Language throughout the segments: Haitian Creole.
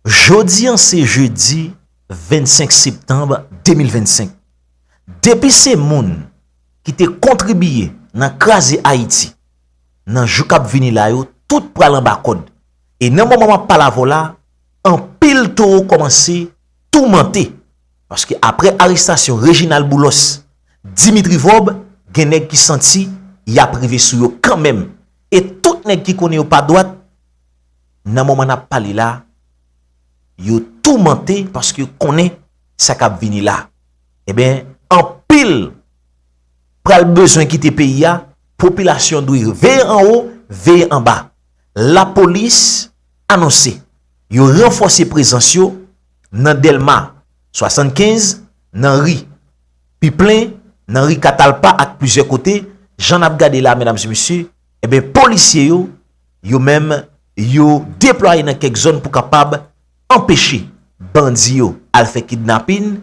Jodi an se jedi 25 septanb 2025. Depi se moun ki te kontribiye nan kraze Ayiti, nan jou kap vini la yo tout pral anba kòd. E nan moman map pale avè'w la, anpil towo kòmanse toumante. Paske aprè arestasyon Reginald Boulos, Dimitri Vorbe, gen nèg ki santi yap rive sou yo kanmenm. E tout nèg ki konnen yo pa dwat. nan moman nap pale la, yo toumante paske yo konnen sa kap vini la. Eben, anpil pral bezwen kite peyi ya, popilasyon dwe veye anwo, veye anba. La polis anonse, yo ranfose prezans yo nan Delma 75, nan ri Piplen, nan ri Katalpa ak plizyè kote, jan nap gade la medam e mesye, Eben polisye yo, yo menm, yo deplwaye nan kèk zòn pou kapab anpeche bandi yo al fè kidnapin,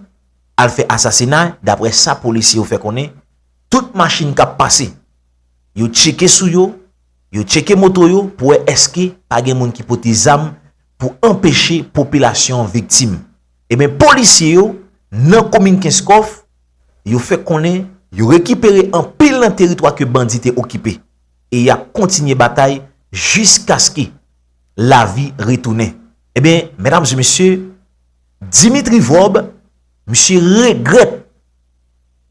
al fè asasina, dapre sa polisye yo fè konnen, tout machin kap pase, yo tcheke sou yo, yo tcheke moto yo pou wè èske pa gen moun ki pote zam pou anpeche popilasyon an viktim. Eben polisye yo nan komin kenskòf, yo fè konnen yo rekipere anpil nan teritwa ke bandi te okipe e yap kontinye batay jiskaske lavi retounen. Ebyen, medam e mesye, Dimitri Vorbe, misye regrèt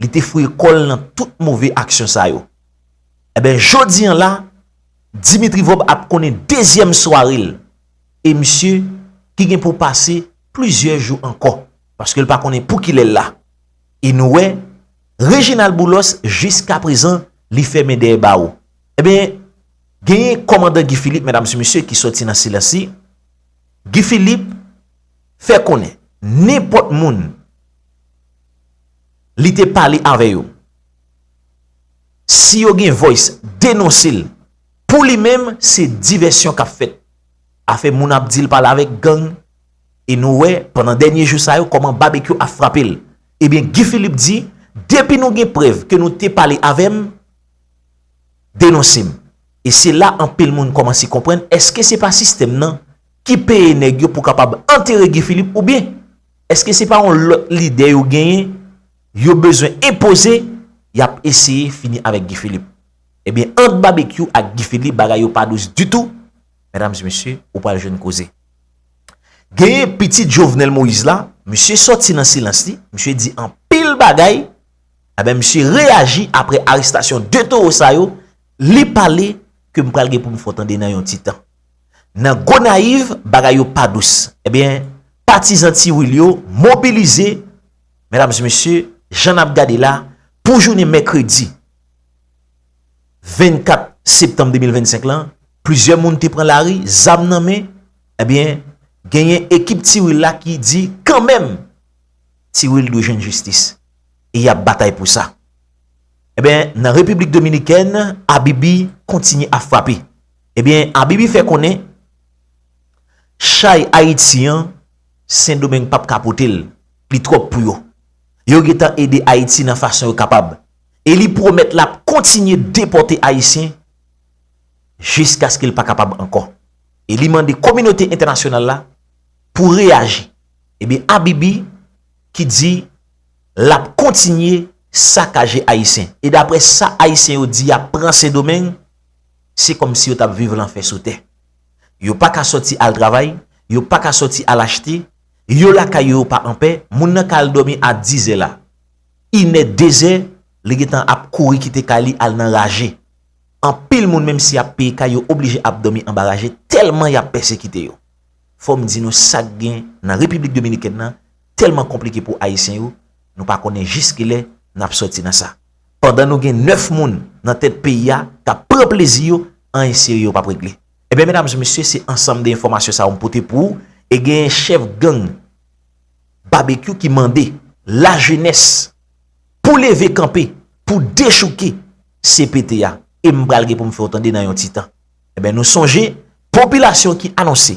li te fouye kò l nan tout move aksyon sa yo. Ebyen, jodi an la, Dimitri Vorbe ap konnen dezyèm sware l e misye ki gen pou pase plizyè jou ankò. Paske l pa konnen pou kilè l la. E nou wè, Reginald Boulos jiska prezan li fèmen dèyè bawo. Enben, genyen kòmandan Guy Philippe, medam si mesye, ki sòti nan silans li. Guy Philippe fè konnen nenpòt moun li te pale avè yo, si yo gen voice denonse l, pou li menm se divèsyon k ap fèt. Afè moun ap di l pale avèk gang. E nou wè pandan dènye jou sa yo kòman babekyou ap frape l. Ebyen Guy Philippe di depi nou gen prèv ke nou te pale avè m denonse m. E se la anpil moun kòmanse konprann eske se pa sistèm nan ki peye nèg yo pou kapab antere Guy Philippe oubyen eske se pa yon lòt lide yo genyen yo bezwen enpoze y ap eseye fini avèk Guy Philippe. Ebyen ant babekyou ak Guy Philippe bagay yo pa dous ditou mèdames et mesye ou pral jwenn koze. Genyen pitit Jovenel Moïse la, misye sòti nan silans li, misye di anpil bagay, enben misye reyaji apre arestasyon 2 towo sa yo, li pale ke m pral gen pou m fè w tande nan yon ti tan. Nan Gonayiv, bagay yo pa dous, enben patizan Ti Wil yo mobilize, medam e mesye, jan n ap gade la, pou jounen mèkredi 24 septanm 2025 lan, Plizyè moun te pran lari, zam nan men, ebyen, genyen ekip Ti Wil la ki di, kanmenm, Ti Wil dwe jwenn jistis, e y ap batay pou sa. Ebyen, nan Repiblik Dominikèn, Abibi kontinye ap frape. Ebyen, Abibi fè konnen, chay Ayiti an, Sendomeng pa p ka pote l, li twòp pou yo. Yo gen tan ede Ayiti nan fason yo kapab. E li pwomèt l ap kontinye depòte Ayisyen, jiskaske l pa kapab ankò. E li mande kominote entènasyonal la pou reyaji. Ebyen Abibi ki di l ap kontinye sakaje Ayisyen. E daprè sa Ayisyen yo di y ap pran Sendomeng, se kòmsi yo t ap viv lanfè sou tè. Yo pa ka sòti al travay, yo pa ka sòti al achte, yo lakay yo yo pa anpè, moun nan ka al dòmi a dizè la, inè, dezè, li gen tan ap kouri kite kay li al nan raje. Anpil moun menm si yap peye kay yo oblije ap domi anba raje telman yap pèsekite yo. Fòm di nou sak gen nan Repiblik Dominikèn nan telman konplike pou Ayisyen yo, nou pa konnen jis kilè nap sòti nan sa. Pandan nou gen 9 moun nan tèt peyi a kap pran plezi yo, anyen serye yo pap regle. Ebyen medam e mesye se ansanm de enfòmasyon sa yo m pote pou ou e genyen chèf gang Babekyou ki mande lajenès pou leve kanpe pou dechouke CPT a e m pral gen pou m fè w tande nan yon ti tan. Enben nou sonje popilasyon ki anonse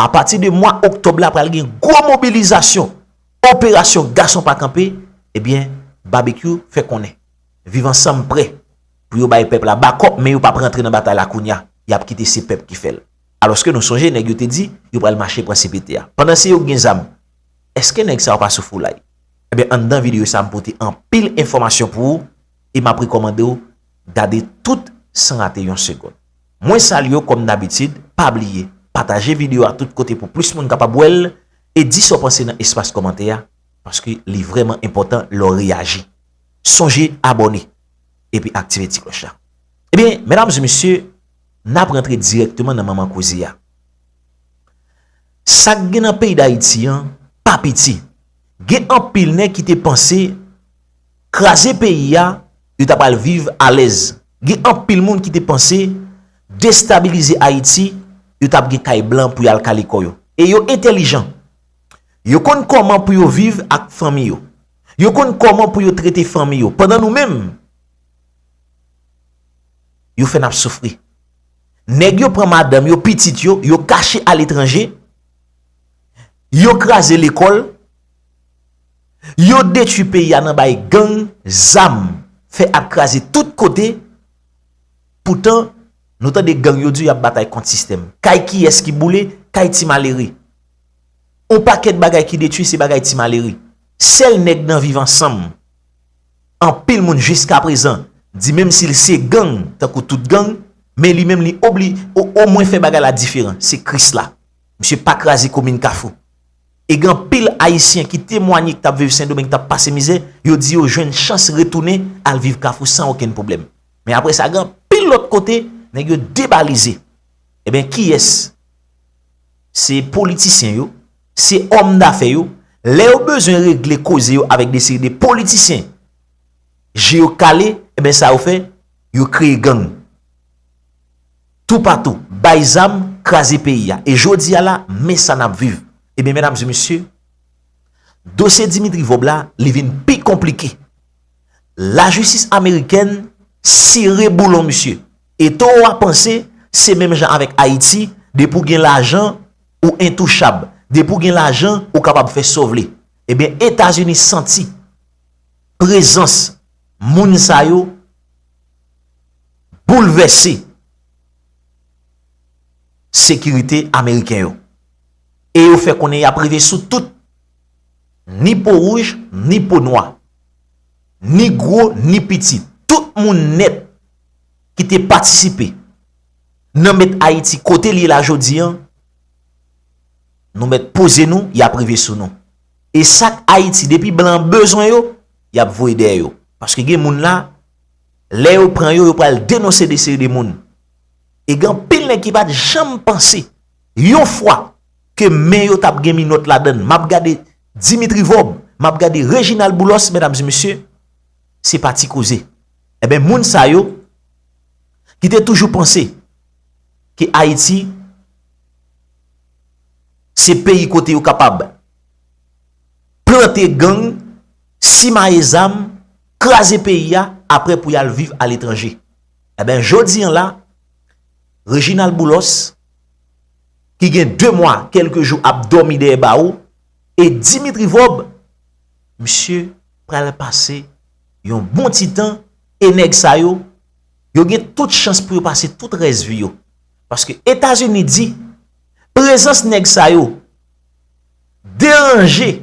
a pati de mwa oktòb la pral gen gwo mobilizasyon operasyon gason pa kanpe ebyen Babekyou fè konnen Viv Ansanm prè pou yo bay pèp la bakòp men yo pap rantre nan batay la kounya y ap kite se pèp ki fè l alòske nou sonje nèg yo te di yo pral mache pran CPT a pandan se yo ki gen zam èske nèg sa yo pa sou foulay? Enben anndan videyo sa m pote anpil enfòmasyon pou ou. e map rekomande w gade tout san rate yon segond. Mwen salye w kom dabitid, pa bliye pataje video a tout kote pou plis moun kapab wè l e di sa w panse nan espas komante a paske li vreman enpotan lè w reyaji. Sonje abone epi aktive ti kloch la. Ebyen medam e mesye nap rantre direkteman nan manman koze a. Sak gen nan peyi dayiti an pa piti. Gen anpil nèg ki te panse. kraze peyi a, yo ta pral viv alèz. Gen anpil moun ki te panse, destabilize Ayiti, yo t ap gen kay blan pou y al kale kò yo. E yo entèlijan. Yo konn kòman pou yo viv ak fanmi yo. Yo konn kòman pou yo trete fanmi yo. Pandan nou menm, yo fè n ap soufri. Nèg yo pran madanm yo, pitit yo, yo kache aletranje, yo kraze lekòl, Yo detwi peyi a nan bay gang zam fè ap kraze tout kote poutan nou tande gang yo di y ap batay kont sistèm. Kay kiyès ki boule? Kay ti malere. On pakèt bagay ki detwi se bagay ti malere. Sèl nèg nan viv ansanm anpil moun jiskaprezan di menm si l se gang tankou tout gang men li menm li obli omwen fè bagay la diferan se kris la. Misye pa kraze komin kafou. e gen anpil Ayisyen ki temwanye ki t ap viv Sendomeng t ap pase mizè, yo di yo jwenn chans retounen al viv Kafou san okenn pwoblèm. Men apre sa gen anpil lòt kote nèg yo debalize. Enben kiyès? Se politisyen yo, se òmdafè yo, lè yo bezwen regle koze yo avèk de seri de politisyen je yo kale, enben sa yo fè, yo kreye gang. tou patou, bay zam, kraze peyi a. E jodi a la, men sa n ap viv. E byen medam e mesye, dosye Dimitri Vob la, li vin pi konplike. Lajistis amerikèn sere boulon misye. E to ou a panse, se menm jan avèk Ayiti, depi ou gen lajan, ou entouchab. Depi ou gen lajan, ou kapab fè sa w vle. E byen Etazini santi prezans moun sa yo. boulvèse sekirite ameriken yo. E yo fè konnen y ap rive sou tout, ni po wouj, ni po nwa, ni gwo, ni piti, tout moun nèt ki te patisipe nan met Ayiti kote l ye la jodi an, nou mèt poze nou, y ap rive sou nou. E sa k Ayiti depi blan bezwen yo, y ap voye dèyè yo. Paske gen moun la. Lè yo pran yo, yo pral denonse de seri de moun. E gen anpil nèg ki pa t janm panse, yon fwa, ke men yo t ap gen minòt ladan l. M ap gade Dimitri Vorbe, m ap gade Reginald Boulos, medam e mesye, se pa ti koze. Enben, moun sa yo, ki te toujou panse, ke Ayiti, se peyi kote yo kapab, plante gang, simaye zam, kraze peyi a apre pou yal viv aletranje. Eben jodi an la, Reginald Boulos, ki gen 2 mwa, kelke jou ap domi deye bawo, e Dimitri Vob, misye pral pase yon bon ti tan, e neg sa yo, yo gen tout chans pou yo pase tout res vi yo. Paske Etazini di, prezans neg sa yo, deranje,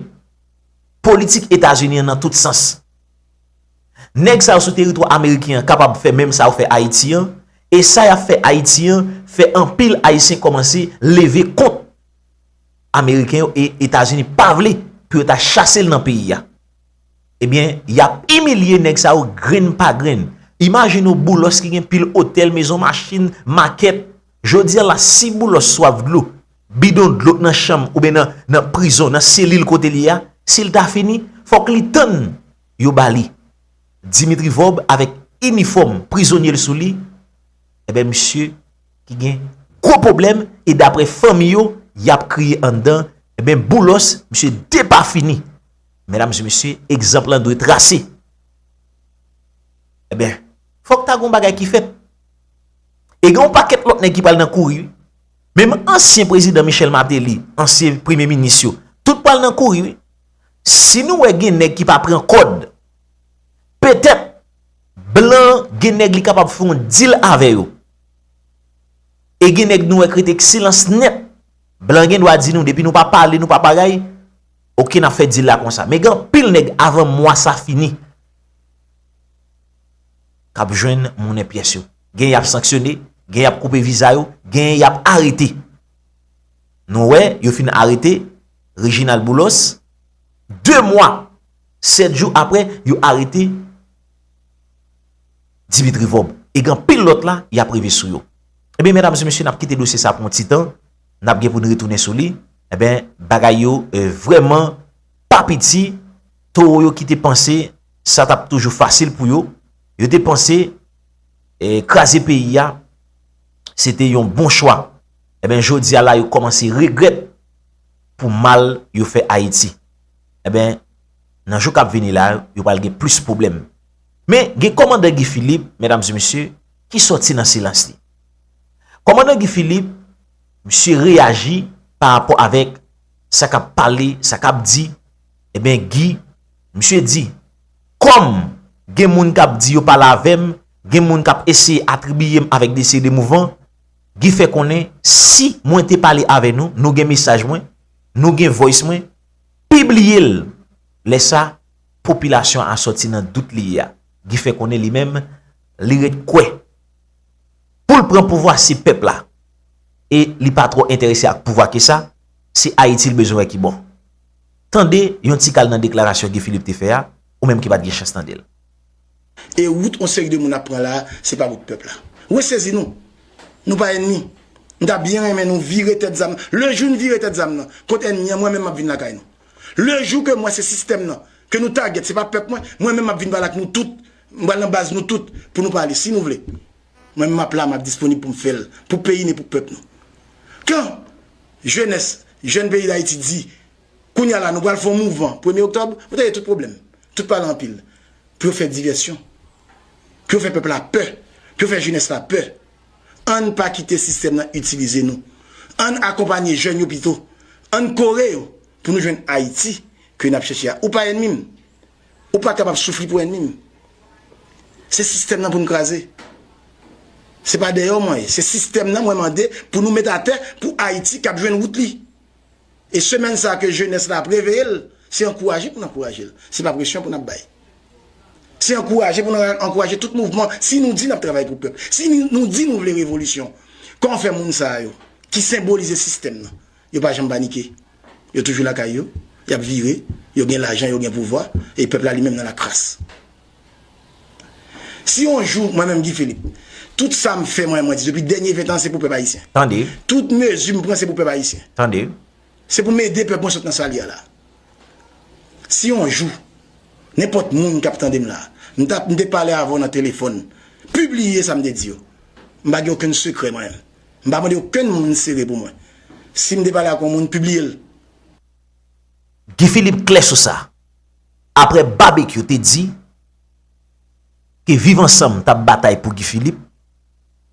politik Etazini an nan tout sans. Nèg sa yo sou teritwa ameriken an kapab fè menm sa yo fè Ayiti an, e sa y ap fè Ayiti an fè anpil Ayisyen kòmanse leve kont Ameriken yo e Etazini pa vle pou yo ta chase l nan peyi a. Ebyen, y ap imilye nèg sa yo grenn pa grenn. Imajine w Boulos ki gen pil otèl, mezon, machin, makèt. Jodi a la si Boulos swaf dlo, Bidon dlo k nan chanm oubyen nan prizon, nan selil kote l ye a, si l ta fini, fòk li tann yo ba li. Dimitri Vorbe avèk inifòm prizonye l sou li, enben misye ki gen gwo pwoblèm e daprè fanmi yo, y ap kriye anndan, enben Boulos, misye depafini. Medam e mesye, egzanp lan dwe trase. Enben, fòk ta gen yon bagay ki fèt. E gen yon pakèt lòt nèg ki pral nan kouri wi. Menm ansyen prezidan Michel Martelly, ansyen premye minis yo, tout pral nan kouri wi. Si nou wè gen nèg ki pa pran kòd, petèt blan gen nèg li kapab fè yon dil avè yo. E gen nèg nou wè k rete ak silans nèt, blan gen dwa di nou depi nou pa pale, nou pa bagay, ok n ap fè dil la konsa. Men gen anpil nèg avan mwa sa fini, k ap jwenn monnen pyès yo. Gen y ap sanksyone, gen y ap koupe viza yo, gen y ap arete. Nou wè, yo fin arete Reginald Boulos, 2 mwa, 7 jou apre, yo arete Dimitri Vob. E gen anpil lòt la, y ap rive sou yo. Ebyen, medam e mesye, n ap kite dosye sa pou yon ti tan, n ap gen pou n retounen sou li. Ebyen, bagay yo vrèman pa piti. Towo yo ki te panse sa tap toujou fasil pou yo, yo te panse kraze peyi ya, se te yon bon chwa. Eben eh jodi ya la yo komanse regret pou mal yo fe Ayiti. Eben, eh nan jou kap vini la, yo pal gen plis problem. Men, gen komandan Guy Philippe, medam zi misye, ki soti nan silans li. Komandan Guy Philippe, misye reyaji pa rapò avek sa kap pale, sa kap di, Ebyen Guy, misye di, Kòm gen moun k ap di yo pale avè m, gen moun k ap eseye atribiye m avèk de seri de mouvman, Guy fè konnen, si mwen te pale avè nou, nou gen mesaj mwen, nou gen voice mwen, pibliye l, lè sa, popilasyon a sòti nan dout li ye a. Guy fè konnen li menm, li ret kwè, pou l pran pouvwa se pèp la, e li pa twò enterese ak pouvwa ke sa, se Ayiti l bezwen wè ki bon. Tande yon ti kal nan deklarasyon Guy Philippe te fè a, ou menm ki pa t gen chans tande l. E wout yon seri de moun ap pran la a, se pa wout pèp la. Resezi nou! Nou pa ènmi. M ta byen renmen nou vire tèt zam. Le jou n vire tèt zam nan kont ènmi an, mwen menm m ap vin lakay nou. Le jou ke m wè se sistèm nan ke nou tagèt, se pa pèp mwen, mwen menm m ap vin pale ak nou tout. M pral nan baz nou tout pou nou pale, si nou vle. Mwen menm map la map disponib poum fèl pou peyi nou e pou pèp nou. Kan jenès, jèn peyi dayiti di kounya la nou pral fè yon mouvman premye oktòb, ou tande tout pwoblèm, tout pale anpil pou yo fè divèsyon, pou yo fè pèp la pè, pou yo fè jenès la pè. Ann pa kite sistèm nan itilize nou. Ann akonpanye jèn yo pito. Ann kore yo pou nou jwenn Ayiti ke nap chèche a. Ou pa ènmim. Ou pa kapab soufri pou ènmi m. Se sistèm nan pou n kraze. Se pa dèyè w mwen ye. Se sistèm nan mwen mande pou nou met atè pou Ayiti kab jwenn wout li. E semèn sa ke jenès la ap reveye l, se ankouraje pou n ankouraje l. Se pa presyon pou n ap bay. Se ankouraje pou nou ankouraje tout mouvman. Si nou di n ap travay pou pèp, si nou di nou vle revolisyon, kòman fè moun sa yo ki senbolize sistèm nan, Yo pa janm panike. Yo toujou lakay yo. Y ap vire. Yo gen lajan, yo gen pouvwa. E pèp la li menm nan lakras. Si yon jou, mwen menm Guy Philippe, tout sa m fè, mwen di depi dènye ventan se pou pèp ayisyen. Tande. Tout mezi m pran se pou pèp ayisyen. Tande. Se pou m ede pèp mwen sot nan sa l ye a la. Si yon jou, nenpòt moun k ap tande m la, m ta, m te pale avè w nan telefòn, pibliye sa m te di yo. M pa gen okenn sekrè mwen menm. M pa mande okenn moun sere pou mwen. Si m te pale ak yon moun, pibliye l. Guy Philippe klè sou sa. Aprè Babekyou te di ke Viv Ansanm t ap batay pou Guy Philippe,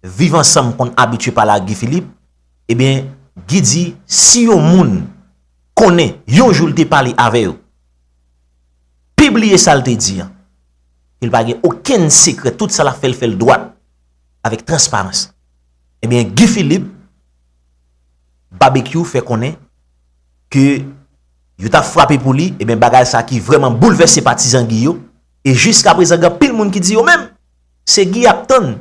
Viv Ansanm konn abitye pale ak Guy Philippe, ebyen Guy di si yon moun konnen yon jou l te pale avè yo, pibliye sa l te di an, ke l pa gen okenn sekrè, tout sa l ap fè l fè l dwat, avèk transparans. Ebyen Guy Philippe, Babekyou fè konnen ke yo ta frape pou li, ebyen bagay sa ki vreman boulvèse patizan Guy yo, e jiska prezan gen pil moun ki di yo menm, se Guy yap tann,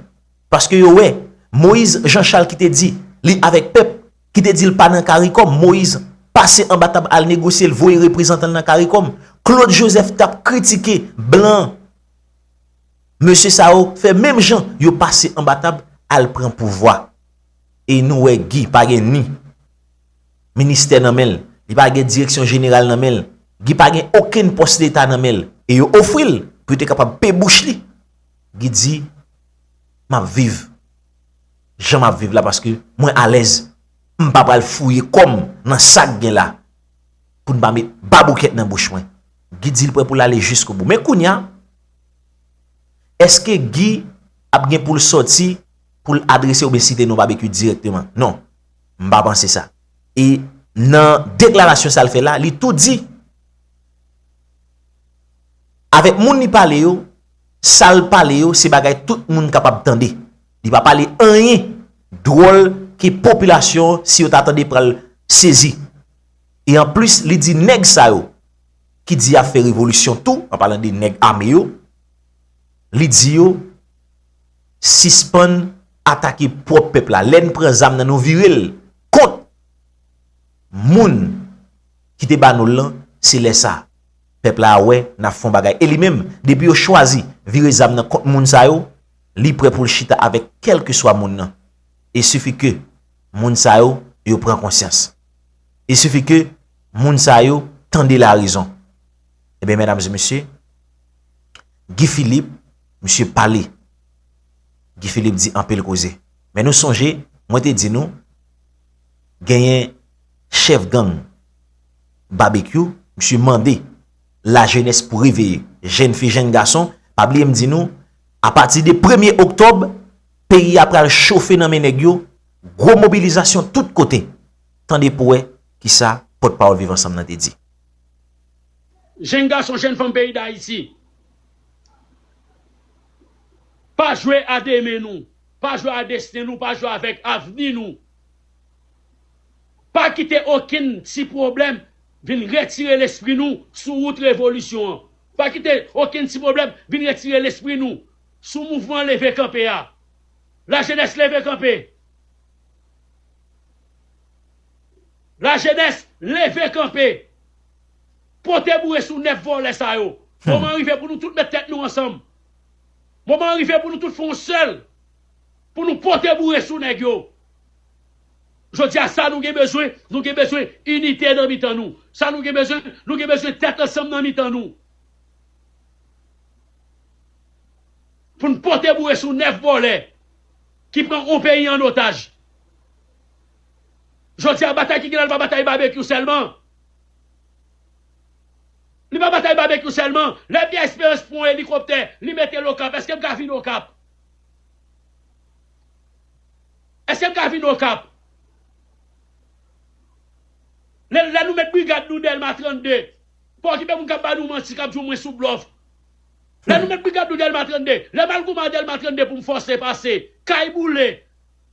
paske yo wè, Moïse Jean Charles ki te di, li avèk pèp, ki te di l pa nan Caricom, Moïse pase anba tab al negosye l voye reprezantan l nan Caricom, Claude Joseph tap kritike blan. Mesye sa yo fè menm jan yo pase anba tab al pran pouvwa. E nou wè Guy pa gen ni ministè nan men l, li pa gen direksyon jeneral nan men l, Guy pa gen okenn pòs leta nan men l e yo ofri l pou yo te kapab pe bouch li. Guy di, m ap viv jan m ap viv la paske mwen alèz, m pa pral fouye kò m nan sa k gen la pou n pa met baboukèt nan bouch mwen. Guy di l prè pou l ale jiskobou. Men kounya. Eske Guy ap gen pou l sòti pou l adrese obesite nou babekue direkteman? Non. M pa panse sa. E nan deklarasyon sa l fè la, li tou di avèk moun li pale yo, sa l pale yo se bagay tout moun kapab tande. Li pa pale anyen dwòl ke popilasyon si yo ta tande pral sezi. E anplis li di nèg sa yo ki di yap fè revolisyon tou, an palan de nèg ame yo, li di yo, sispann atake pwòp pèp la, lè n pran zam nan nou vire l kont moun ki te ba nou l lan, se lè sa a, pèp la a wè n ap fè yon bagay. E li menm, depi yo chwazi vire zam nan kont moun sa yo, li prè pou l chita avèk kèlkeswa moun nan, e sifi ke moun sa yo, yo pran konsyans. Il suffit ke moun sa yo tande la rezon. Ebyen medam e mesye, Guy Philippe, misye pale. Guy Philippe di anpil koze. Men nou sonje, mwen te di nou, genyen chef gang Babekyou, misye mande la jenès pou reveye. Jenn fi, jenn gason, pa bliye m di nou, a pati de premye oktob, peyi a pral chofe nan men nèg yo, gwo mobilizasyon tout kote. Tande pou w wè ki sa pòtpawòl Viv Ansanm nan te di. Jenn gason, jenn fanm peyi Dayiti, pa jwe a demen nou, pa jwe a desten nou, pa jwe avèk avni nou. Pa kite okenn ti pwoblèm vin retire lespri nou sou wout revolisyon an. Pa kite okenn ti pwoblèm vin retire lespri nou sou mouvman leve kanpe a. Lajenès leve kanpe! La jenès leve kanpe. Pote boure sou 9 vòlè sa yo. Moman an rive pou nou tout met tèt nou ansanm. Moman an rive pou nou tout fè yon sèl pou nou pote boure sou nèg yo. Jodi a sa nou gen bezwen, nou gen bezwen inite nan mitan nou. Sa nou gen bezwen, nou gen bezwen tèt ansanm nan mitan nou. Pou nou pote boure sou 9 vòlè. Ki pran yon peyi an otaj. Jodi a batay ki gen la li pa batay babekyou sèlman. Li pa batay babekyou sèlman. Lè Pierre Esperance pran yon elikoptè, li mete l Okap, èske m ka vin Okap? Èske m ka vin Okap? Lè nou met brigad nou Dèlma 32, pa okipe moun k ap ba nou manti, k ap di w mwen sou blòf. Lè nou met brigad nou delma 32 lè mal gouman delma 32 poum fòse pase kay boule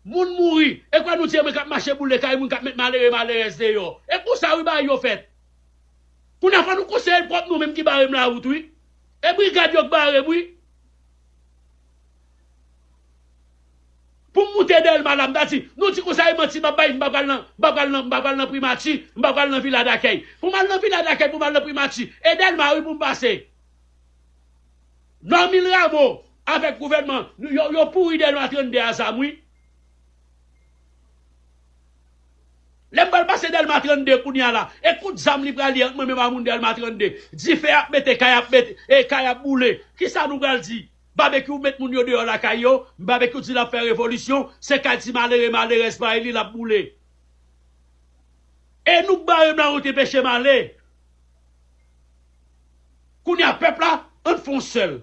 Moun mouri e kwè nou di e mwen kap mache boule kay moun kap met malere malerèz deyò e konsa wi bagay yo fèt kounya fò nou konseye pwòp nou menm ki barem la wout wi e brigad yo k barem wi poum moute delma la mta di nou di konsa e manti map bay mpa pral nan mpa pral nan mpa pral nan primati mpa pral nan vila dakèy poum al nan vila dakèy poum al nan primati e delma wi poum pase Normil Rameau avèk gouvènman yo yo pouri dèyè nou a 32 a zam wi. Lèm pral pase Dèlma 32 kounya la e kout zam li pral ye ant mwen menm a moun Dèlma 32. Dife ap mete kay ap met e kay ap boule kisa nou pral di? Babekyou met moun yo deyò lakay yo Babekyou di lap fè revolisyon se kay ti malere malerèz pa li lap boule. E nou k barem la nou te pechem ale. Kounya pèp la ann fon sèl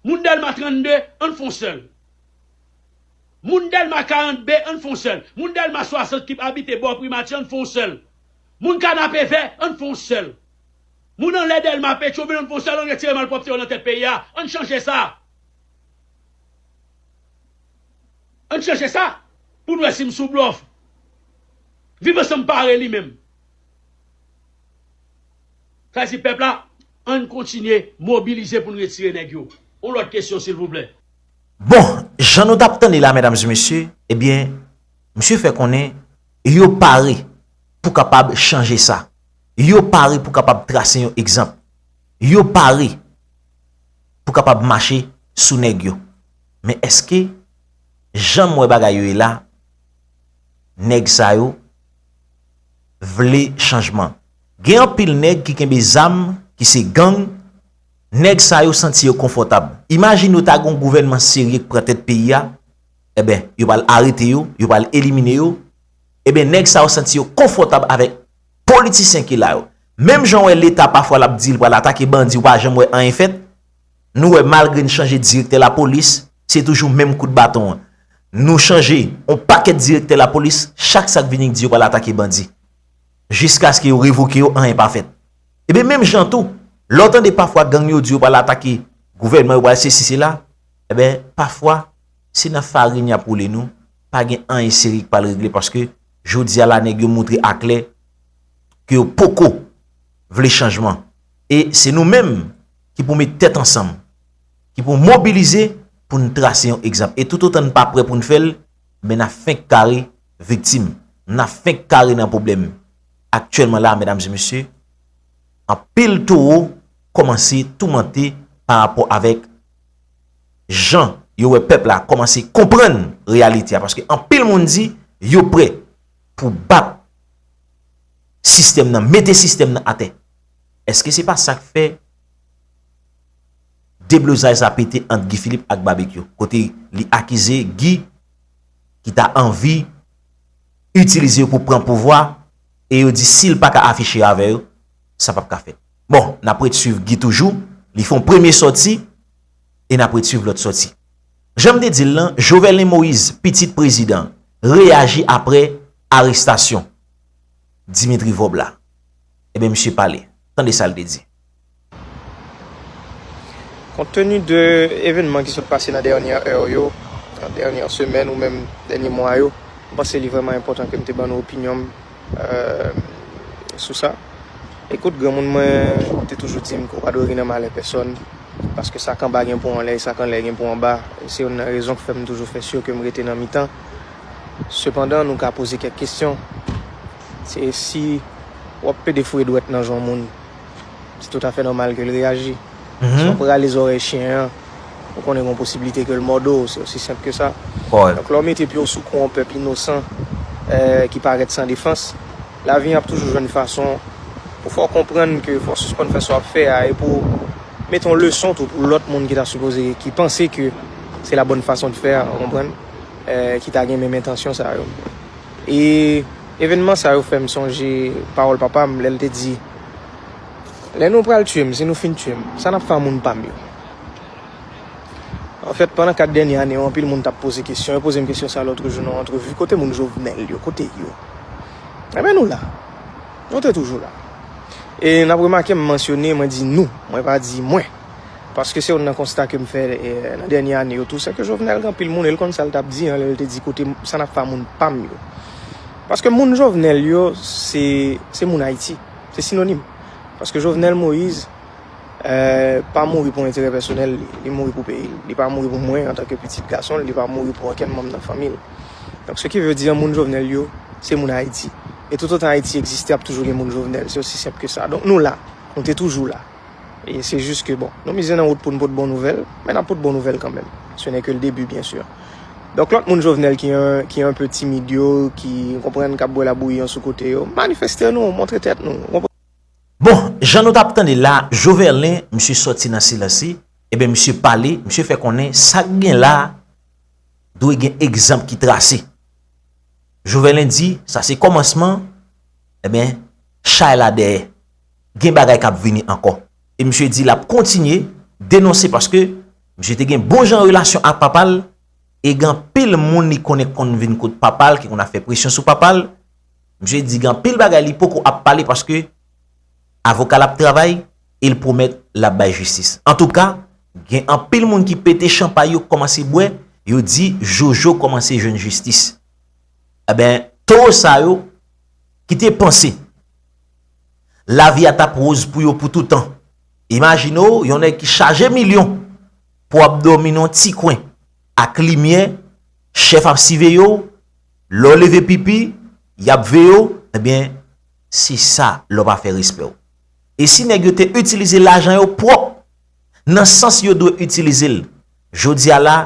Moun dèlma 32 ann fon sèl Moun dèlma 40 be ann fon sèl Moun dèlma 60 kip abite bò primati ann fon sèl Moun kanapevè ann fon sèl Moun anlè dèlma petyon-vil ann fon sèl ann retire malpwòpte yo nan tèt peyi a ann chanje sa ann chanje sa poun wè sim sou blòf viv ansanm pare li menm. Fèsi pèp la ann kontinye mobilize poun retire nèg yo on lòt kesyon silvouplè. Bon, jan nou tap tande la medam e mesye, ebyen misye fè konnen yo pare pou kapab chanje sa, yo pare pou kapab trase yon egzanp, yo pare pou kapab mache sou nèg yo. Men eske janm wè bagay yo ye la nèg sa yo. vle chanjman. Gen anpil nèg ki kenbe zam, ki se gang, nèg sa yo santi yo konfòtab. Imajine yo ta gen yon gouvènman serye k pran tèt peyi a, eben, yo pral arete yo, yo pral elimine yo, eben nèg sa yo santi yo konfòtab avèk politisyen ki la yo. Menm jan wè leta pafwa l ap di l pral atake bandi ou pa janm wè anyen fèt, Nou wè malgre n chanje direktè lapolis, se toujou menm kout baton an. Nou chanje yon pakèt direktè lapolis, chak sa k vini k di yo pral atake bandi. Jiskaske yo revoke yo, anyen pa fèt. Ebyen menm jan tou, lè w tande pafwa gang yo di yo pral atake gouvènman, yo pral sesi sela, ebyen pafwa se nan farin y ap woule nou, pa gen anyen serye k pral regle paske jodi a la nèg yo montre aklè ke yo poko vle chanjman. E se nou menm. ki pou met tèt ansanm, ki pou mobilize pou n trase yon egzanp. E toutotan n pa prè pou n fè l, men n ap fenk kare viktim, n ap fenk kare nan pwoblèm. Aktyèlman la, medam e mesye, anpil towo kòmanse toumante pa rapò avèk jan yo wè pèp la kòmanse konprann reyalite a. Paske anpil moun di yo prè pou bat sistèm nan, mete sistèm nan atè. Eske se pa sak fè deblozay sa pete ant Guy Philippe ak Babekyou kote li akize Guy ki ta anvi itilize yo pou pran pouvwa e yo di si l pa ka afiche avè yo sa pap ka fèt. Bon, n ap ret swiv Guy toujou, li fon premye sòti e n ap ret swiv lòt sòti. Jan m te di l lan, Joverlein Moise, pitit prezidan, reyaji aprè arestasyon Dimitri Vorbe la. Ebyen misye pale. Tande sa l te di. Kont teni de evenman ki sot pase nan dènyè è yo, nan dènyè semèn ou menm dènyè mwa yo, m panse li vrèman enpòtan ke m te ban nou opinyon m sou sa. Ekout, granmoun mwen te toujou di m ke w pa dwe ri nan malè pèsòn, paske sa k anba gen pou anlè e sa k anlè gen pou anba. E se youn nan rezon k fè m toujou fè sur ke m rete nan mitan. Sepandan, nou ka poze kèk kesyon. Se si wap pede foure dwèt nan jon moun, se tout afè nòmal ke l reyaji. Si wap rale zòrèy chyen an, ou konnen gon posibilite ke l mòde w, se osi senp ke sa. Donk lè w mete pye w sou kou yon pèp inosan ki parèt san defans, lavi an ap toujou jwenn fason pou fè w konprann ke fò w sispann fè sa wap fè a e pou w mete yon leson tou pou lòt moun ki ta sipoze, ki panse ke se la bòn fason de faire, ou konprann, ki ta gen menm entansyon sa yo. E evènman sa yo fè m sonje pawòl papa m lè l te di, Lè nou pral tiye m, si nou fin tiye m, sa n ap fè ak moun pa m yo? Anfèt, pandan kat dènye ane yo, anpil moun t ap poze kesyon. Yo poze m kesyon sa a lòtrejou nan yon antrevi, Kote moun Jovenel yo? Kote yo? Enben, nou la. Nou te toujou la. E n ap remake m mansyone, mwen di nou, mwen pa di mwen. Paske se youn nan konsta ke m fè nan dènye ane yo tou, se ke Jovenel gen anpil moun e l konn sa l t ap di an lè l te di kote sa n ap fè a moun pa m yo. Paske moun Jovenel yo se moun Ayiti. Se sinonim. Paske Jovenel Moise pa mouri pou enterè pèsonèl li. Li mouri pou peyi l. Li pa mouri pou mwen antanke pitit gason l. Li pa mouri pou okenn manm nan fanmi l. Donk se ki vle di an moun Jovenel yo se moun Ayiti. E toutotan Ayiti egziste ap toujou gen moun Jovenel. Se osi senp ke sa. Donk nou la. Nou te toujou la. E se jis ke bon, nou mize nan wout pou n pot bon nouvèl, men n ap pot bon nouvèl kanmenm. Se nè ke l debi, byen sur. Donk lòt moun Jovenel ki an, ki an pe timid yo, ki, ou konprann, k ap bwè labouyi an sou kote yo, manifeste nou, montre tèt nou, ou konprann. Bon, jan nou t ap tande la, Joverlin, misye sòti nan silans li, e ben misye pale, misye fè konnen sa k gen la a, dwe gen egzanp ki trase. Joverlin di, sa se kòmansman, e ben, chay la dèyè. gen bagay kap vini ankò. E misye di lap kontinye denonse paske misye te gen bon jan relasyon ak papal e gen anpil moun li konnen ki konn vin kot papal ki konn ap fè presyon sou papal. Misye di gen anpil bagay li poko ap pale paske avokal ap travay e l pwomèt lap bay jistis. Antouka gen anpil moun ki pete chanpay yo kòmanse bwè yo di Jojo kòmanse jwenn jistis. Enben towo sa yo kite panse. Lavi a tap roz pou yo pou toutan. Imajine w yon nèg ki chaje milyon pou ap dòmi nan yon ti kwen ak limyè, chèf ap siveye w, lè w leve pipi, y ap veye w, ebyen se sa lè w pa fè respè w. E si nèg yo te itilize lajan yo pwòp, nan sans yo dwe itilize l, jodi a la,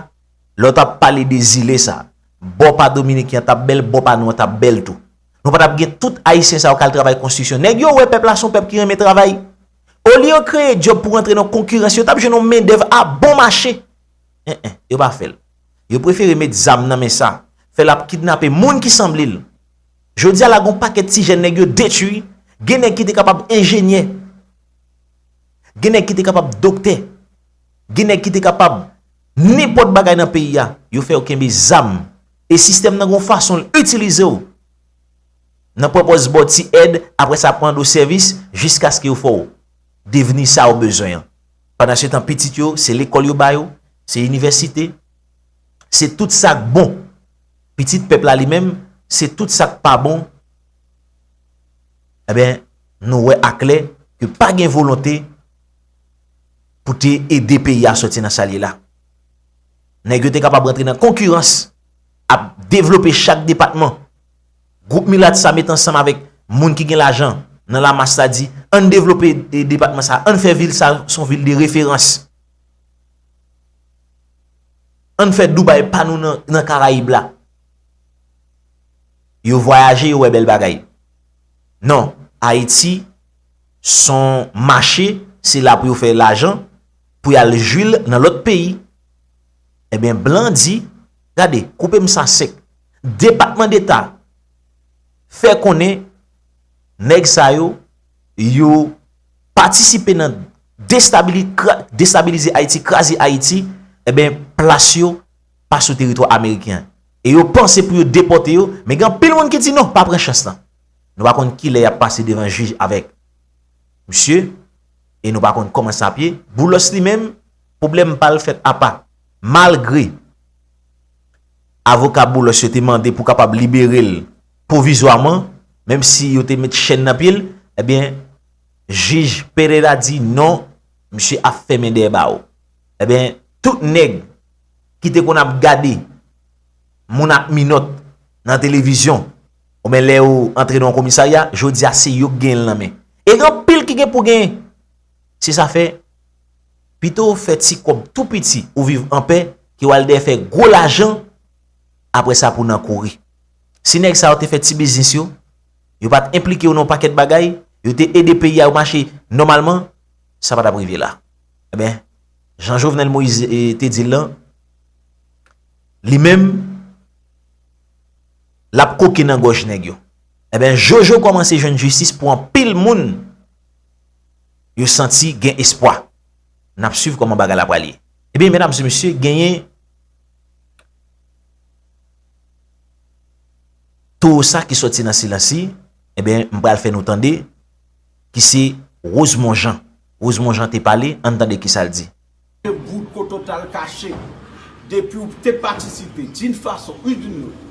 lè w tap pale de zile sa, bò pa Dominiken an tap bèl, bò pa nou an tap bèl tou. Nou pa tap gen tout ayisyen sa yo kal travay konstriksyon. Nèg yo wè pèp la son pèp ki renmen travay. Olye yo kreye djòb pou rantre nan konkirans, yo tap jwenn yon mendèv a bon mache. En en, yo pa fèl. Yo prefere met zam nan men sa, fèl ap kidnape moun ki sanble l. Jodi a la gon pakèt ti jèn nèg yo detwi, gen nèg ki te kapab enjenyè, gen nèg ki te kapab doktè, gen nèg ki te kapab nenpòt bagay nan peyi a, yo fè yo kenbe zam. E sistèm nan gen yon fason l itilize w. Nan pwopòz ba w ti èd, apre sa ap mande w sèvis, jiskaske yo fè w devni sa ou bezwen an. Pandansetan pitit yo, se lekòl yo ba yo, se inivèsite, se tout sa k bon. Pitit pèp la li menm, se tout sa k pa bon. Enben, nou wè aklè ke pa gen volonte pou te ede peyi a soti nan sa l ye la. Nèg yo te kapab rantre nan konkirans ap devlope chak depatman. Gwoup milat sa met ansanm avèk moun ki gen lajan nan lamas la di an n devlope depatman sa, an n fè vil sa s on vil de referans. An n fè Dubai pa nou nan Karayib la. Yo vwayaje yo wè bèl bagay. Non, Ayiti s on mache, se la pou yo fè lajan, pou yal jwil nan lòt peyi, ebyen blan di, gade, koupe m sa sèk. Depatman deta fè konnen nèg sa yo, yo patisipe nan destabilize Ayiti, kraze Ayiti, ebyen plas yo pa sou teritwa ameriken. E yo panse pou yo depote yo, men gen anpil moun ki di non, pa pran chans lan. Nou pa konn kilè yap pase devan jij avèk. Msye, e nou pa konn kòman sa ap ye, Boulos li menm, pwoblèm pa l fèt apa. Malgre, avoka Boulos yo te mande pou kapab libere l pwovizwaman, menm si yo te met chèn nan pye l, ebyen, jij Pereira di non, msye ap fèmen dèyè bawo. Ebyen, tout nèg ki te konn ap gade moun ak minòt nan televizyon, Bon men lè yo antre nan yon komisarya, jodi a se yo ki genyen l nan men. E gen anpil ki gen pou genyen. Se sa fè, pito ou fè ti kòb tou piti, ou viv anpè, ke w al dèyè fè gwo lajan, apre sa pou w nan kouri. Si nèg sa yo te fè ti biznis yo, yo pa t enplike yo nan yon pakèt bagay, yo te ede peyi a yo mache nòmalman, sa pa t ap rive la. Enben, jan Jovenel Moïse te di l lan, li menm, Lap koke nan gòj nèg yo. Enben Jojo kòmanse jwenn jistis pou anpil moun yo santi gen espwa. Nap swiv kòman bagay la pral ye. Ebyen medam se mesye genyen towo sa ki soti nan silansi enben m pral fè nou tande ki se Rosemon Jean. Rosemon Jean te pale ann tande kisa l di. Ke bout ou total kache. Depiw te patisipe din fason ou din lot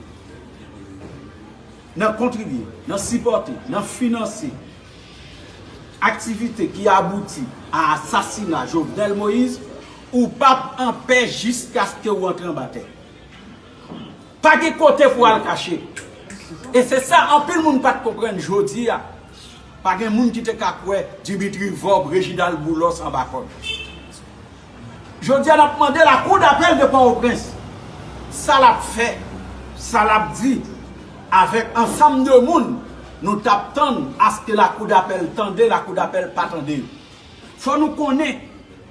nan kontribye, nan sipòte, nan finanse aktivite ki abouti a asasina Jovenel Moïse, ou pap anpè jiskaske ou antre anba tè. Pa gen kote pou al kache. E se sa anpil moun pat konprann jodi a. Pa gen moun ki te ka kwè Dimitri Vorbe, Reginald Boulos anba kòd. Jodi a n ap mande lakou dapèl de Pòtoprens sa l ap fè, sa l ap di avèk ansanm de moun nou t ap tann aske lakou dapèl tande, lakou dapèl pa tande yo. Fò nou konnen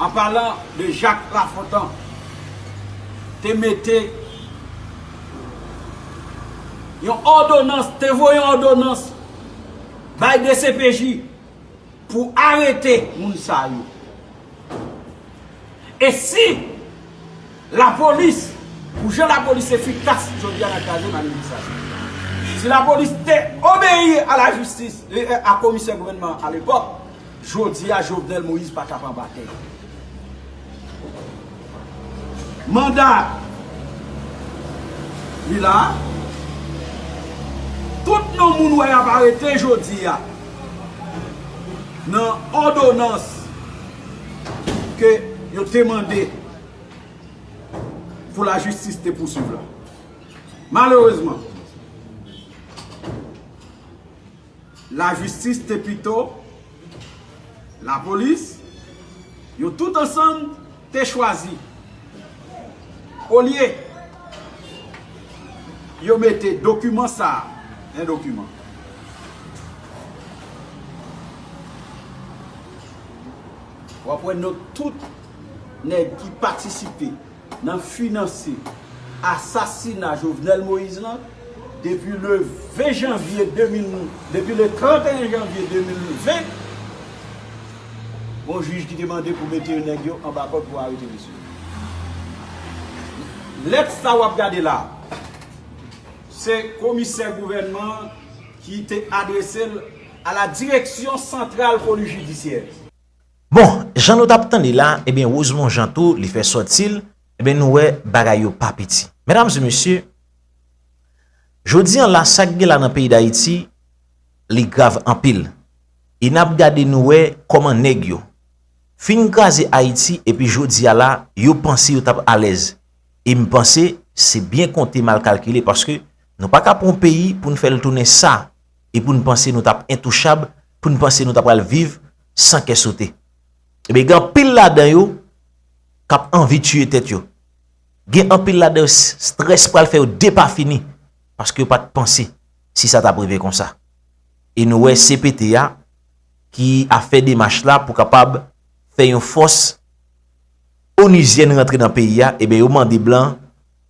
an palan de Jacques Lafontant, te mete yon òdonans, te voye yon òdonans bay dcpj pou arete moun sa yo. E si lapolis, pou jan lapolis efikas jodi a nan kraze manifestasyon, si lapolis te obeyi a la jistis, a komisè gouvènman a lepòk, Jodi a Jovenel Moïse pa kap anba tè. Manda li la. Tout non moun wè yap arete jodi a nan òdonans ke yo te mande pou la jistis te pousuiv la. Malerezman. la jistis te pito la polis yo tout ansanm te chwazi olye yo mete dokiman sa yon dokiman wap wè not tout nèg ki patisipe nan finanse asasina Jovenel Moïse lan depi le 20 janvye 2000 depi le 31 janvye 2020 gon jij ki te mande pou mete nèg yo anba kòd pou arete mesye yo lèt sa wap gade la se komisè gouvènman ki te adresel a la direksyon santral polis jidisyè. Bon, jan nou tap tande la, ebyen Rosemond Jean tou li fè sòti l, ebyen nou wè bagay yo pa piti. Medam e mesye, jodi an la sak gen la nan peyi Dayiti, li grav anpil. E nap gade nou wè kòman nèg yo fin kraze Ayiti epi jodi a la yo panse yo tap alèz. E m panse se byen konte mal kalkile paske nou pa ka pran yon peyi pou n fè l tounen sa e pou n panse nou tap entouchab, pou n panse nou ta pral viv san kè sote. Ebyen gen anpil ladan yo kap anvi tiye tèt yo. Gen anpil ladan yo strès pral fè yo depafini paske yo pat panse si sa tap rive konsa. E nou wè CPT a ki ap fè demach la pou kapab fè yon fòs onuzyèn rantre nan peyi a, ebyen yo mande blan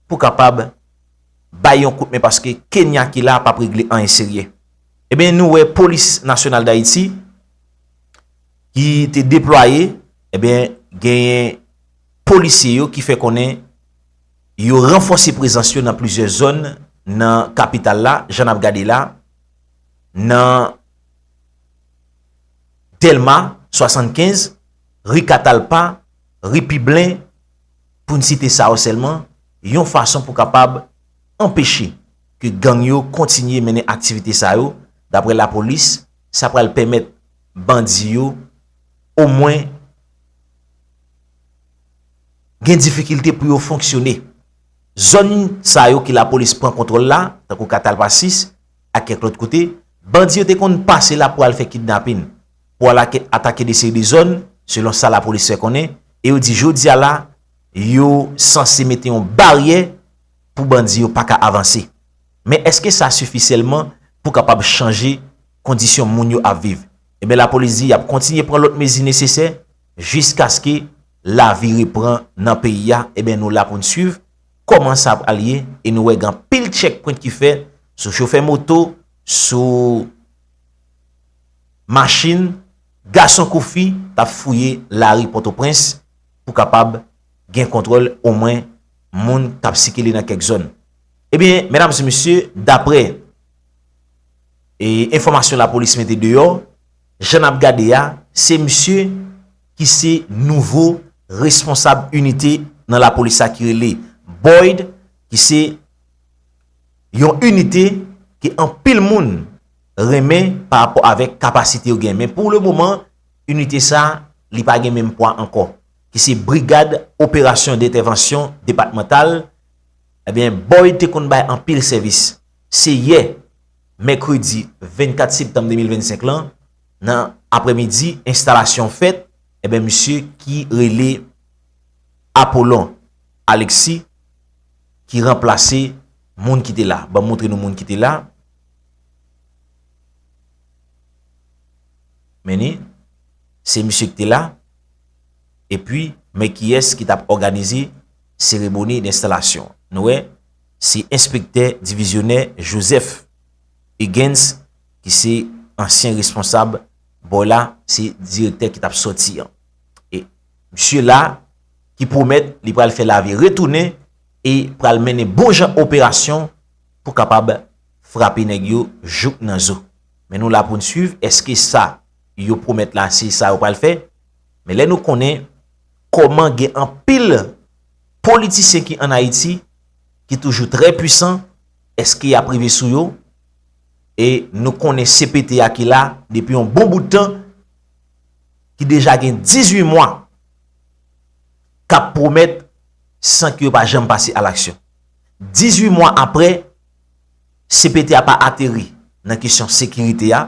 pou kapab bay yon kout men paske Kenya ki la pap regle anyen serye. Ebyen nou wè polis nasyonal dayiti ki te deplwaye ebyen genyen polisye yo ki fè konnen yo ranfòse prezans yo nan plizyè zòn nan kapital la jan nap gade la nan dèlma 75 ri katalpa ri piblen poun site sa yo sèlman yon fason pou kapab anpeche ke gang yo kontinye mennen aktivite sa yo, daprè lapolis, sa pral pèmèt bandi yo omwen gen difikilte pou yo fonksyone. Zòn sa yo ke lapolis pran kontwòl la, tankou Katalpa 6 ak kèk lòt kote, bandi yo te konn pase la pou al fè kidnapin, pou al atake de seri de zòn, selon sa lapolis fè konnen, e yo di jodi a la, yo sanse mete yon baryè, pou bandi yo pa ka avanse. Men eske sa sifi sèlman pou kapab chanje kondisyon moun yo ap viv? Enben lapolis di y ap kontinye pran lòt mezi nesesè jiskaske lavi repran nan peyi a. Enben nou la pou n swiv kòman sa pral ye e nou wè gen anpil tchèkpwent ki fè sou chofè moto, sou machin, gason kou fi k ap fouye lari Pòtoprens pou kapab gen kontwòl omwen. moun k ap sikile nan kèk zòn. Ebyen, medam e mesye, daprè e enfòmasyon lapolis mete deyò, jan n ap gade a, se misye ki se nouvo responsab inite nan lapolis la ki rele Boyd, ki se yon inite ke anpil moun renmen pa rapò avèk kapasite yo gen. Men pou le moman, inite sa, li pa gen menm pwa ankò. ki se Brigad Operasyon Dentèvansyon Depatmantal, ebyen Boyd te konn bay anpil sèvis. Se yè, mèkredi 24 septanm 2025 lan, nan aprèmidi, enstalasyon fèt, ebyen misye ki rele Apollon Alexis ki ranplase moun ki te la. Ban m montre nou moun ki te la. Men ni, se misye ki te la. Epi, men kiyès ki t ap òganize seremoni denstalasyon an. Nou wè, se enspektè divizyonè Joseph Huggins ki se ansyen responsab bò la, se direktè ki t ap sòti an. E, misye la, ki pwomèt li pral fè lavi retounen e pral mennen bon jan operasyon pou kapab frape nèg yo jouk nan zo. Men nou la pou n suiv, èske sa. yo pwomèt la se sa yo pral fè, men lè nou konnen kòman gen anpil politisyen ki an Ayiti ki toujou trè pwisan, eske y ap rive sou yo? E nou konnen CPT a ki la depi yon bon bout tan, ki deja gen 18 mwa k ap pwomèt san ke yo pa janm pase a laksyon. 18 mwa apre, CPT a pa ateri nan kesyon sekirite a,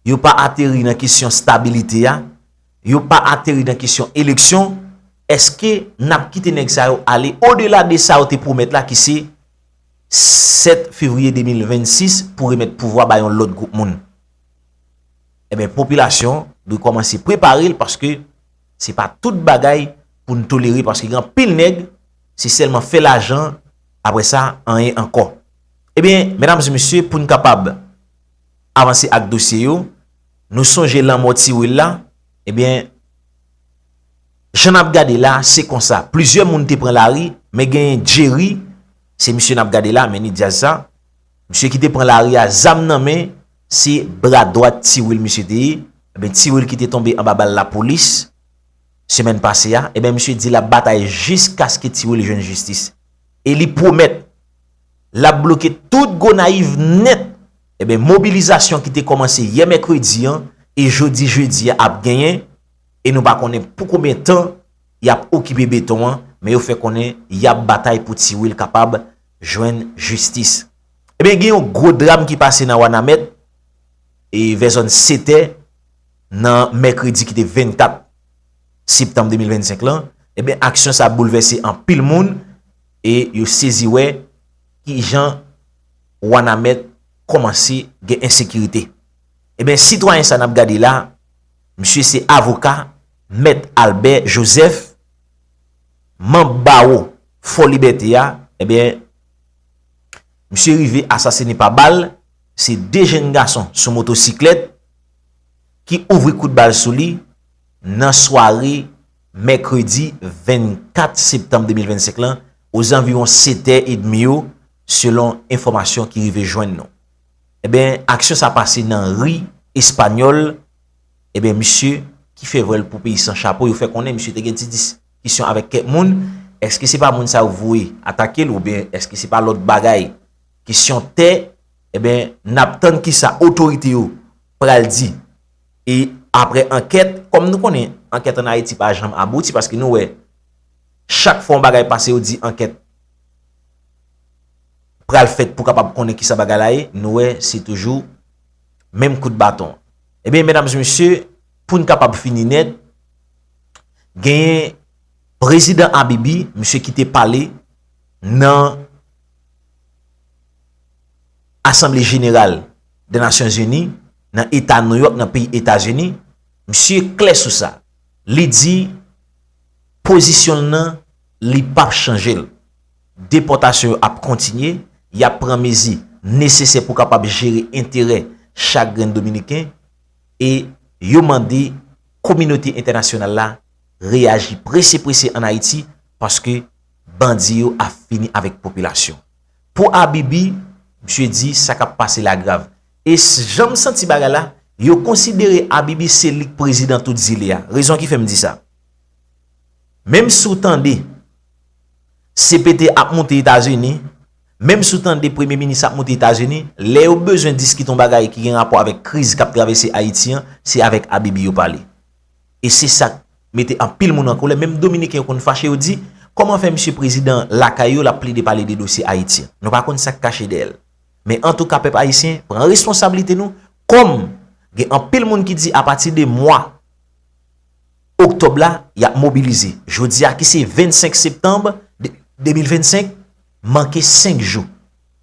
yo pa ateri nan kesyon stabilite a, yo pa ateri nan kesyon eleksyon, eske n ap kite nèg sa yo ale odela de sa yo te pwomèt la ki se 7 fevriye 2026 pou remèt pouvwa ba yon lòt gwoup moun? Enben, popilasyon dwe kòmanse prepare l paske se pa tout bagay pou n tolere paske gen anpil nèg se sèlman fè lajan apre sa anyen ankò. Ebyen, medam e mesye, pou n kapab. avanse ak dosye yo, nou sonje lanmò ti Wil la, ebyen, jan n ap gade la, se konsa, plizyè moun te pran lari, men genyen Jerry, se misye n ap gade la, Menni Dyaz sa, misye ki te pran lari a, zam nan men, se bra dwat ti Wil misye te ye, ebyen, ti Wil ki te tonbe anba bal lapolis, semèn pase a, ebyen, misye di l ap batay jiskaske ti Wil jwenn jistis, e li pwomèt. l ap bloke tout Gonayiv nèt, enben mobilizasyon ki te kòmanse yè mèkredi an e jodi jedi a ap genyen e nou pa konnen pou konbyen tan y ap okipe beton an, men yo fè konnen y ap batay pou Ti Wil kapab jwenn jistis. Enben gen yon gwo dram ki pase nan Wanament e vè zòn Setè nan mèkredi ki te 24 septanm 2025 lan, enben aksyon sa boulvèse anpil moun. E yo sezi wè ki jan Wanament kòmanse gen ensekirite. E ben sitwayen sa n ap gade la, misye se avoka Mèt Albè Jozèf, manb bawo Fò Libète a, e ben misye rive asasine pa bal, se 2 jenn gason sou motosiklèt ki ouvri kout bal sou li nan sware. Mèkredi 24 septanm 2025 lan ozanviwon setè edmi yo selon enfòmasyon ki rive jwenn nou. Enben aksyon sa pase nan ri Espanyòl, enben misye ki fè vwèl pou peyi san chapo yo fè konnen misye te gen ti diskisyon avèk kèk moun, èske se pa moun sa yo voye atake l oubyen èske se pa lòt bagay, kesyon tè, enben n ap tann kisa otorite yo pral di. E apre ankèt, kòm nou konnen ankèt an Ayiti pa janm abouti paske nou wè chak fwa yon bagay pase yo di ankèt pral fèt pou kapab konnen kisa bagay la ye, nou wè se toujou menm kout baton. Ebyen, medam e mesye, pou n kapab fini nèt, genyen prezidan Abibi, misye ki te pale nan. Asanble Jeneral de Nasyon Zini nan Eta New York nan peyi Etazini, misye klè sou sa. Li di pozisyon l nan li pa p chanje l. Depòtasyon yo ap kontinye, y ap pran mezi nesesè pou kapab jere enterè chak grenn Dominiken e yo mande kominote entènasyonal la reyaji prese prese an Ayiti paske bandi yo ap fini avèk popilasyon. Pou Abibi, misye di sa k ap pase la grav. E jan m santi bagay la, yo konsidere Abibi se li k prezidan tout zile a. Rezon ki fè m di sa. Menm si w tande CPT ap moute Etazini, menm si w tande premye minis ap moute Etazini, lè yo bezwen diskite yon bagay ki gen rapò avèk kriz k ap travèse Ayiti an, se avèk Abibi yo pale. e se sak mete anpil moun an kolè menm dominiken yo konn fache yo di kòman fè misye prezidan lakay yo lap plede pale de dosye ayiti an nou pa konn sak kache dèyè l men antouka pèp ayisyen pran responsablite nou kòm gen anpil moun ki di apati de mwa oktòb la yap mobilize jodi a ki se 25 septanb 2025 manke 5 jou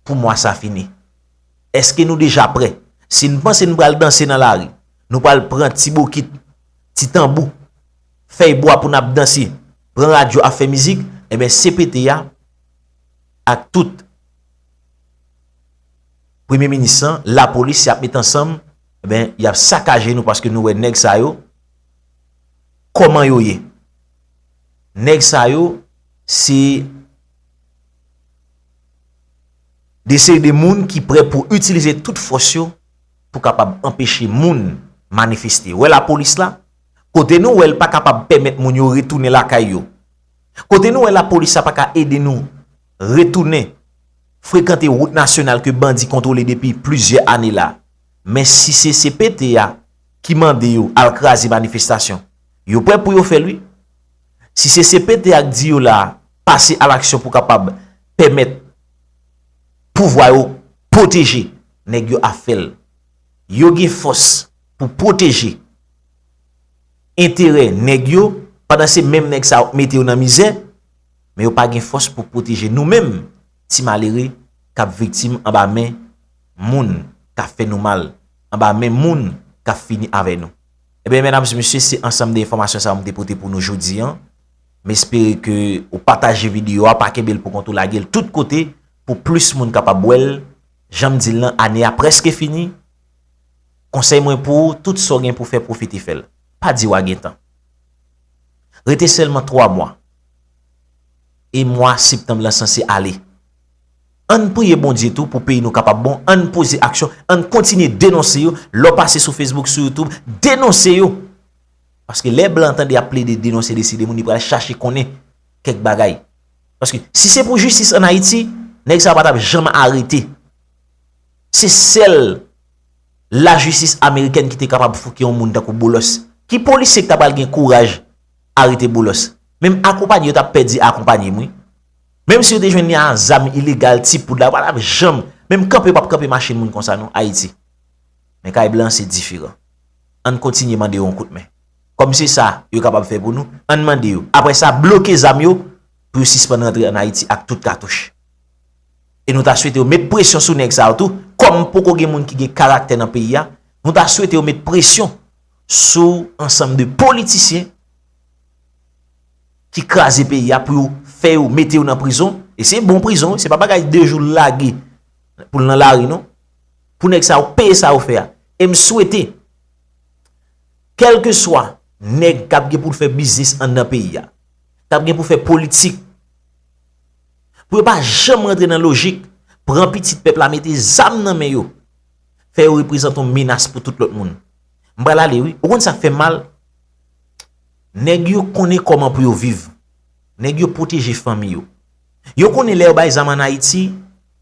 pou mwa sa fini eske nou deja prè si nou panse nou pral danse nan lari Nou pral pran ti bokit, ti tanbou, fèy bwa pou n ap danse, pran radyo ap fè mizik, enben CPT a ak tout Premye Minis lan, Lapolis y ap met ansanm, enben y ap sakaje nou paske nou wè nèg sa yo, kòman yo ye. Nèg sa yo se de seri de moun ki pre pou itilize tout fòs yo, pou kapab anpeche moun manifeste. Wè lapolis la? Kote nou wè l pa kapab pèmèt moun yo retounen lakay yo? Kote nou wè lapolis la pa ka ede nou retounen frekante wout nasyonal ke bandi kontwole depi plizyè ane la? Men si se cpt a ki mande yo al kraze manifestasyon, yo prè pou yo fè l wi. Si se cpt a k di yo la pase alaksyon pou kapab pèmèt pouvwa yo pwoteje nèg yo ap fè l. Yo gen fòs pou pwoteje enterè nèg yo pandan se menm nèg sa yo k mete yo nan mizè, men yo pa gen fòs pou pwoteje nou menm ti malere k ap viktim anba men moun k ap fè nou mal, anba men moun k ap fini avè nou. Enben medam e mesye se ansanm de enfòmasyon sa yo m te pote pou nou jodi an. M espere ke ou pataje videyo a, pa kenbe l pou kont ou lage l tout kote pou plis moun kapab wè l. Jan m di l lan, ane a prèske fini, konsèy mwen pou ou, tout sa w gen pou fè pwofite fè l. Pa di w a gen tan. Rete sèlman 3 mwa. E mwa septanm lan sanse ale. An n priye Bondye tou pou peyi nou kapab bon, an n poze aksyon, an n kontinye denonse yo, lè w pase sou Facebook, sou YouTube, denonse yo! Paske lè blan tande y ap plede denonse deside moun li pral chache konnen kèk bagay. Paske si se pou jistis an Ayiti, nèg sa pa tap janm arete. Se sèl la jistis amerikèn ki te kapab fouke yon moun tankou Boulos. Ki polisye ki ta pral gen kouraj arete Boulos? Menm akonpanye yo tap pè di akonpanye m wi. Menm si yo te jwenn li a zam ilegal, ti poud la, yo pa tap janm, menm kanpe yo pap kanpe machin moun konsa non, Ayiti. Men kay blan se diferan. Ann kontinye mande yo yon kout men. Kòm se sa yo kapab fè pou nou, ann mande yo. Apre sa, bloke zam yo pou yo sispann rantre ann Ayiti ak tout katouch. E nou ta swete yo met presyon sou nèg sa yo tou, kòm poko gen moun ki gen karaktè nan peyi a, nou ta swete yo met presyon sou ansanm de politisyen ki kraze peyi a pou yo fè yo mete yo nan prizon. E se bon prizon wi, se pa bagay de jou lage pou l nan lari non. Pou nèg sa yo peye sa yo fè a. E m swete. Kèlkeswa nèg k ap gen pou l fè biznis anndan peyi a, k ap gen pou fè politik, pou yo pa janm rantre nan lojik pran pitit pèp la mete zam nan men yo, fè yo reprezante yon menas pou tout lòt moun. M pral ale wi. Ou konn sa k fè m mal? Nèg yo konnen kòman pou yo viv. Nèg yo pwoteje fanmi yo. Yo konnen lè yo bay zam ann Ayiti,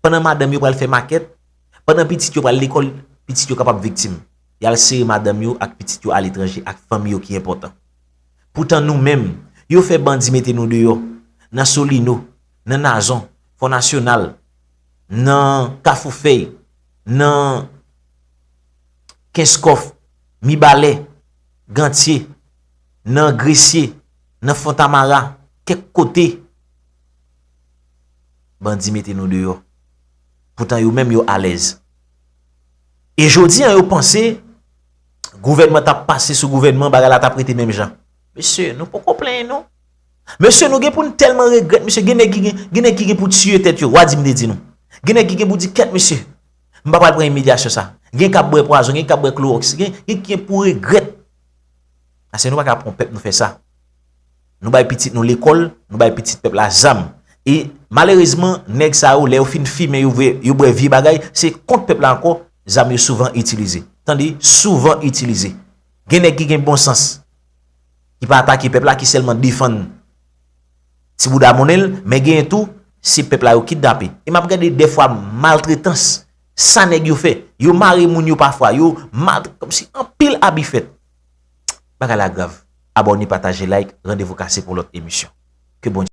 pandan madanm yo pral fè makèt, pandan pitit yo pral lekòl, pitit yo kapab viktim. Y al sere madanm yo ak pitit yo aletranje ak fanm yo ki enpòtan. Poutan nou menm, yo fè bandi mete nou deyò, nan Solino, nan Nazon, Fò Nasyonal, nan Kafou Fèy, nan Kenskòf, Mibalè, Gantye, nan Gresye, nan Fontamara, kèk kote. Bandi mete nou deyò. Poutan yo menm yo alèz. E jodi an yo panse gouvènman t ap pase sou gouvènman bagay la t ap rete menm jan. Mesye, nou poko plenyen nou. Mesye, nou gen pou nou tèlman regrèt mesye, gen nèg ki gen, gen nèg ki gen pou tiye tèt yo, wa di m te di nou. Gen nèg ki gen pou di kèt mesye, m pa pral pran imilyasyon sa. Gen k ap bwè pwazon, gen k ap bwè klowòks, gen ki gen pou regrèt. Ase nou pa ka pran pèp nou fè sa. nou bay pitit nou lekòl, nou bay pitit pèp la zam. E malerezman, nèg sa yo, lè yo fin fimen, yo bwè vye bagay, se kont pèp la ankò, zam yo souvan itilize. Tande, souvan itilize. Gen nèg ki gen bon sans, ki pa atake pèp la, ki sèlman defann ti bouda monnen l, men genyen tou, se pèp la yo kidnape. E m ap gade dè fwa maltretans, sa nèg yo fè. Yo mare moun yo pafwa, yo maltre, kòm si anpil abi fèt. Bagay la grav. Abòne pataje like randevou kase pou lòt emisyon. Ke Bondye.